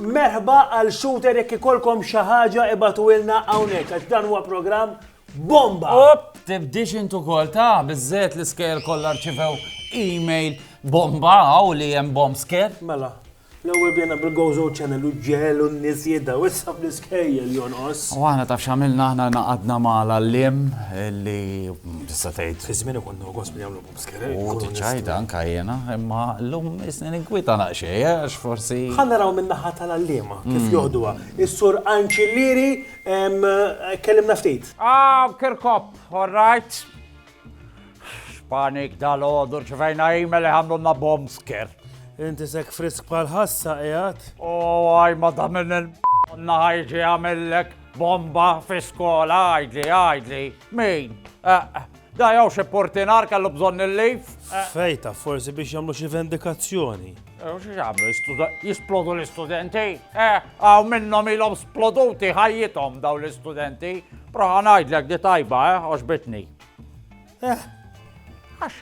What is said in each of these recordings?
Merħba għal shooter jekk ikolkom xi ħaġa ibatu ilna hawnhekk għax dan huwa programm bomba. Op, tibdix intu kol ta' bizzet l-iskejl kollha rċivew email bomba għaw li hemm bomb scare. Mela. L-ewwel bdejna bil-Gozo Channel u ġġegħlu n-nies jidhru, issa bl-iskejjel jonqos. U aħna taf x'għamilna aħna ngħaqadna ma' l-għalliem li tista' tgħid. Fi żmieni kont nogos min jagħmlu bobscare. U tiċċajta anke jiena, imma llum isni ninkwieta naqxej għax forsi. Ħa naraw min-naħa tal-għalliema kif joħduha. Is-Sur Anċillieri kellimna ftit. Ah, Kirkop, all right. X'panik dal-għodu rċivejna email iħamlunna bomb scare. Inti sek frisk bħal ħassa qiegħed. U għaj ma da minn il-naħajġi għamillek bomba fi skola għajdli għajdli. Min? Eh, eh. Da jaw xie portinar kellu bżonn il-lif. Eh. Fejta, forsi biex jamlu xie vendikazzjoni. Jisplodu l-istudenti? Eh, għaw minnom ilom sploduti ħajjitom daw l-istudenti. Proħa najdlek di tajba, eh, oġbitni. Eh, għax,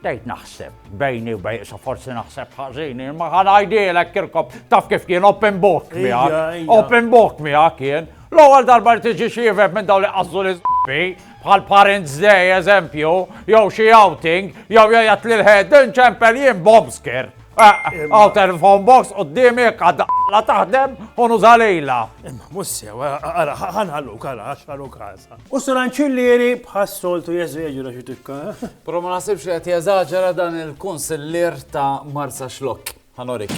dejt naħseb, bejni u bejn, so forsi naħseb ħazini, ma ħanajdilek kirkob, taf kif kien open book miħak, open book miħak kien, l-ewwel darba li tiġi xievek minn daw li qassu l-isbi, bħal Parents Day eżempju, jew xi outing, jew jgħajat lil head inċempel jien bombsker. Għaw telefon box u d-dimi għadda la taħdem u nużalejla. Imma mussi, għara, ħanħallu kara, għaxħallu kasa. U s-ranċillieri bħas-soltu jeżeġra xi tikka. Pro ma nasibx li qed jeżaġera dan il-kunsillier ta' Marsa Xlok. Ħa norik.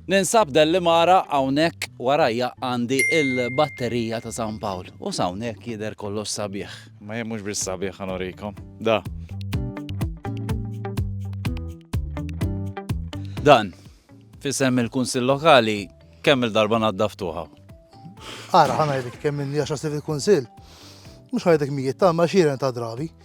Ninsab Dellimara hawnhekk warajja għandi il-batterija ta' San Pawl. U s'hawnhekk jidher kollox sabiħ. Ma jien mhux biss sabiħ ħa norikom. Da. Dan, fisem il-Kunsill Lokali, kemm il-darba naddaftuha? Ara, ħana jdik kemm minn jaxa stiv il-Kunsill. Mux ħajdek mijiet ta' ma xiren ta' drabi.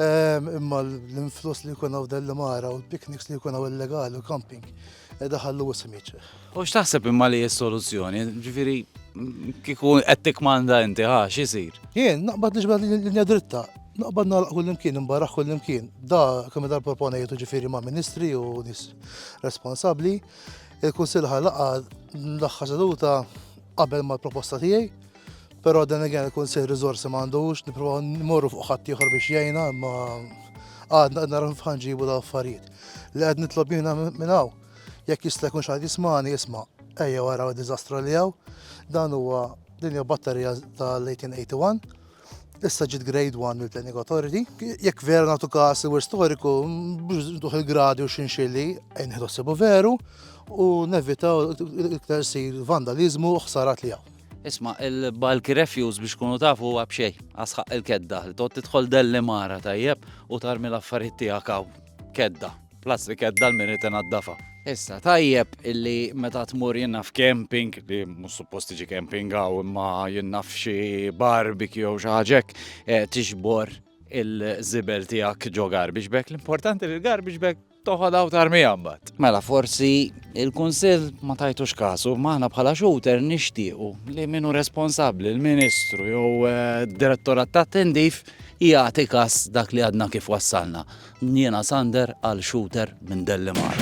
Imma l-influss li jkun hawn dell-imara u l-pikniks li jkun hawn illegali u camping edha ħallu ismiċ. U x'taħseb imma li s-soluzzjoni? Ġifieri kieku qed tikmanda inti ħa x'isir? Jien naqbad li ġbad linja dritta, naqbad nagħlaq kull imkien, imbaraħ kull imkien. Da kemm dar proponejtu ġifieri ma' ministri u nies responsabbli. Il-Kunsill ħalaqa l-aħħar seduta qabel mal-proposta tiegħi Però then again il-Kunsill riżorsi m'għandux, nipprovaw nimorru fuq ħadd ieħor biex jgħinna, imma għadna qed naraw ħanġibu daw affarijiet. Li qed nitlob jiena minn hawn, jekk jista' jkun xi jismani jisma' ejja wara d-diżastru li hawn, dan huwa din hija batterija tal-1881. Issa ġiet grade 1 mill-Planning Authority. Jekk vera nagħtu każ il storiku, duħ il-gradi u xinxilli, nħidu veru u nevitaw iktar sir vandalizmu u ħsarat li hawn. Isma, il-bulky refuse biex kunu tafu huwa b'xej, għasħaq il-kedda, li tot tidħol delli mara tajjeb u tarmi l-affarijiet tiegħek hawn. Kedda, plastik kedda l-minit inaddafa. Issa, tajjeb illi meta tmur jenna f'camping, li mhux suppost tiġi camping għaw imma jenna f'xi barbecue jew xi ħaġek, eh, tixbor il-żibel tiegħek ġo garbage bag. L-importanti li l-garbage bag Toħodha u tarmiha mbagħad. Mela forsi il-Kunsill ma tajtux kasu, ma aħna bħala xouter nixtiequ li min hu responsabbli l-Ministru jew eh, d-Direttorat ta' Tindif jagħti kas dak li għadna kif wassalna. Jiena Sander għal xouter minn Dellimar.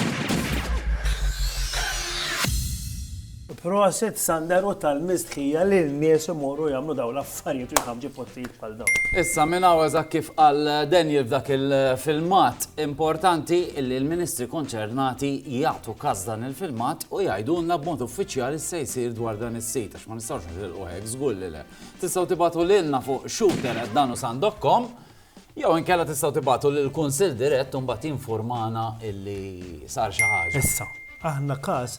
Prosit Sander u tal mistħija li n-nies imorru jagħmlu dawn l-affarijiet u jħammġu postijiet bħal dawn. Issa minn hawn eżatt kif qal Daniel f'dak il-filmat importanti illi l-Ministri konċernati jagħtu każ dan il-filmat u jgħidulna b'mod uffiċjali se jsir dwar dan is-sit għax ma nistgħux nitilqu hekk żgur li le. Tistgħu tibatu lilna fuq shooter@danusandokkom jew inkella tistgħu tibatu lil kunsill dirett u mbagħad jinfurmana illi sar xi ħaġa. Issa, aħna każ